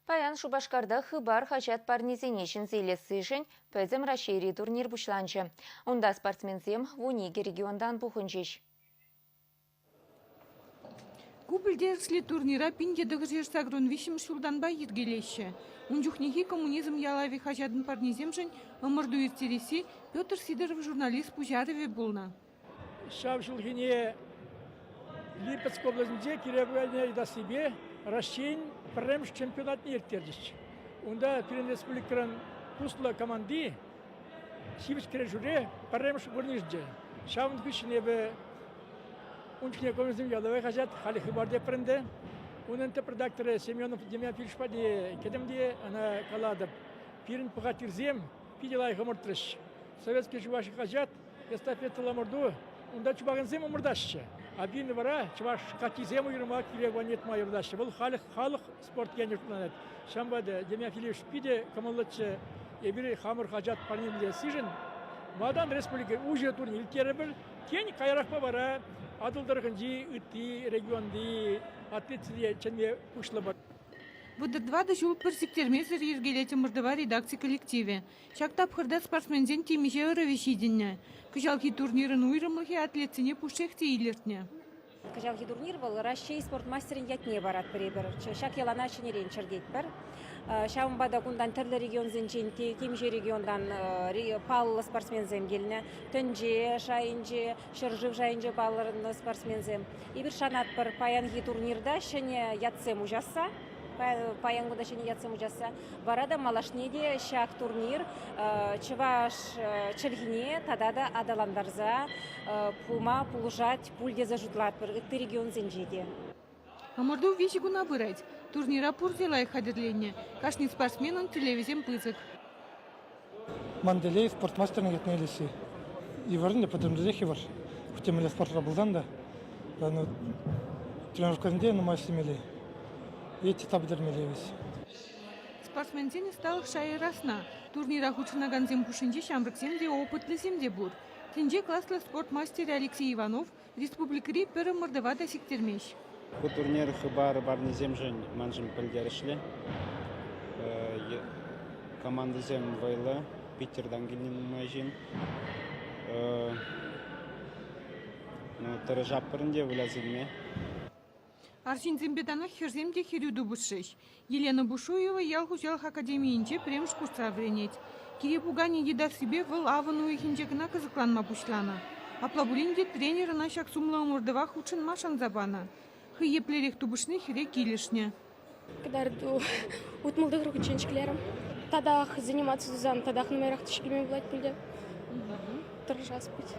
Паян Шупашкарта «Хыпар» хаҫат парнисене ҫӗнсе илессишӗн Пӗтӗм Раҫҫейри турнир пуҫланчӗ. Унта спортсменсем вун икӗ регионтан пухӑнчӗҫ. Ку пӗлтерӗшлӗ турнира пин тӑтӑшӗ шагрон виҫҫӗмӗш ҫултанпа йӗркелеҫҫӗ. Ун чухнехи «Коммунизм ялавӗ» хаҫатӑн парнисемшӗн ӑмӑрту ирттересси Петр Сидоров журналист пуҫарӑвӗ пулнӑ. Ҫав ҫулхине Липецк облаҫӗнче кире куяльнине йӑтассипе Раҫҫейӗн пӗрремӗш чемпионатне ирттерчӗҫ. Унта пирӗн республикӑран туслӑ команди ҫивӗч кӗрешӳре пӗрремӗш вырӑн йышӑнчӗ. Ҫавӑн хыҫҫӑн эпӗ ун чухне Комсомол ялавай хаҫат халӗ Хыпарте пӗрӗнтӗ. Унӑн тӗп редакторӗ Семенов Демьянович патне кӗтӗм те ӑна калатӑп, пирӗн пӑхаттирсем питӗ лайӑх ӑмӑртрӗҫ. Советски Чуваши хаҫат эстафетӑлла ӑмӑрту. Унта чупакансем ӑмӑртаҫҫӗ. Один вара чӑваш катисем уйрӑма кирек ванетма юратаҫҫӗ. Вӑл халӑх, халӑх спорт енӗ шутланать. Ҫавӑнпа та демофилиш питӗ кӑмӑллӑччӗ. Эпир хамӑр хаҫат парнелесишӗн Ватан республики уҫӑ турне ирттерӗпӗр. Тен, каярахпа вара Атӑл тӑрӑхӗнчи ытти регионти атлетсене чӗнме пуҫлӑпӑр. Вӑтӑр тӑватӑ ҫул пӗр сиктермесӗр йӗркелет ӑмӑртӑва редакци коллективӗ. Ҫак тапхӑрта спортсменсен темиҫе ӑрӑвӗ ҫитӗннӗ. Кӑҫалхи турнирӑн уйрӑмлӑхӗ атлетсене пушшех те илӗртнӗ. Кӑҫалхи турнир вӑл Раҫҫей спорт мастерӗн ятне парать пӗрер-пӗр. Ҫак йӑлана ҫӗнӗрен чӗртетпӗр. Ҫавӑнпа та кунтан тӗрлӗ регионсенчен те, темиҫе регионтан паллӑ спортсменсем килнӗ. Тӗнче шайӗнче ҫӗршыв шайӗнче палӑрнӑ спортсменсем. Эпир шанатпӑр паянхи турнирта ҫӗнӗ ятсем уҫасса, паян кунта ҫӗнӗ ятсем уҫасса. Вара та малашне те ҫак турнир чӑваш чӗлхине тата та аталантарса пыма пулӑшать пуль тесе шутлатпӑр ытти регионсенче те. Ӑмӑрту виҫӗ куна пырать. Турнира пурте лайӑх хатӗрленнӗ. Кашни спортсменӑн тӳлевӗсем пысӑк. Ман телей спорт мастерне ятне илесси вырӑнлӑ, пӗтӗмлетех йывӑр. Хӑть темле спортра пулсан та тренировкӑсенче нумай ӗҫлемелле е титла пӗтермелле вӗт. Спортсменсен ӑсталӑх шайӗ расна. Турнира хутшӑнакансем хушшинче ҫамрӑксем те, опытлисем те пур. Тӗнче класлӑ спорт мастерӗ Алексей Иванов Республикӑри пӗр ӑмӑртӑва та сиктермест. Ку турнир хыпар парнисемшӗн маншӑн пӗлтерӗшлӗ. Командӑсем вӑйлӑ. Питӗртан килнӗ нумай ҫын. Ну, тӑрӑшатпӑр ӗнтӗ вылясанне. Арҫынсемпе танах хӗрсем те хӗрӳ тупӑшрӗҫ. Елена Бушуева ял хуҫалӑх академийӗнче пӗрремӗш курсра вӗренет. Кире пуканӗ йӑтассипе вӑл авӑн уйӑхӗнче кӑна кӑсӑкланма пуҫланӑ. Апла пулин те тренер ӑна ҫак сумлӑ ӑмӑртӑва хутшӑнма шанса панӑ. Хӑй еплерех тупӑшни хӗре килӗшнӗ. Кӑтарту утмӑл тӑхӑр хутчен ҫӗклерӗм. Татах заниматься тусан татах нумайрах тишкерме пулать пуль те. Тӑрӑшас пуль.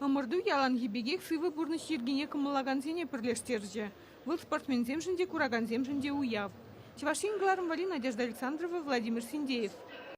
Ӑмӑрту яланхи пекех сывӑ пурнӑҫ йӗркине кӑмӑллакансене пӗрлештерчӗ. Вӑл спортсменсемшӗн те, куракансемшӗн те уяв. Чӑваш Ен кӑларӑмвӑрри Надежда Александрова, Владимир Синдеев.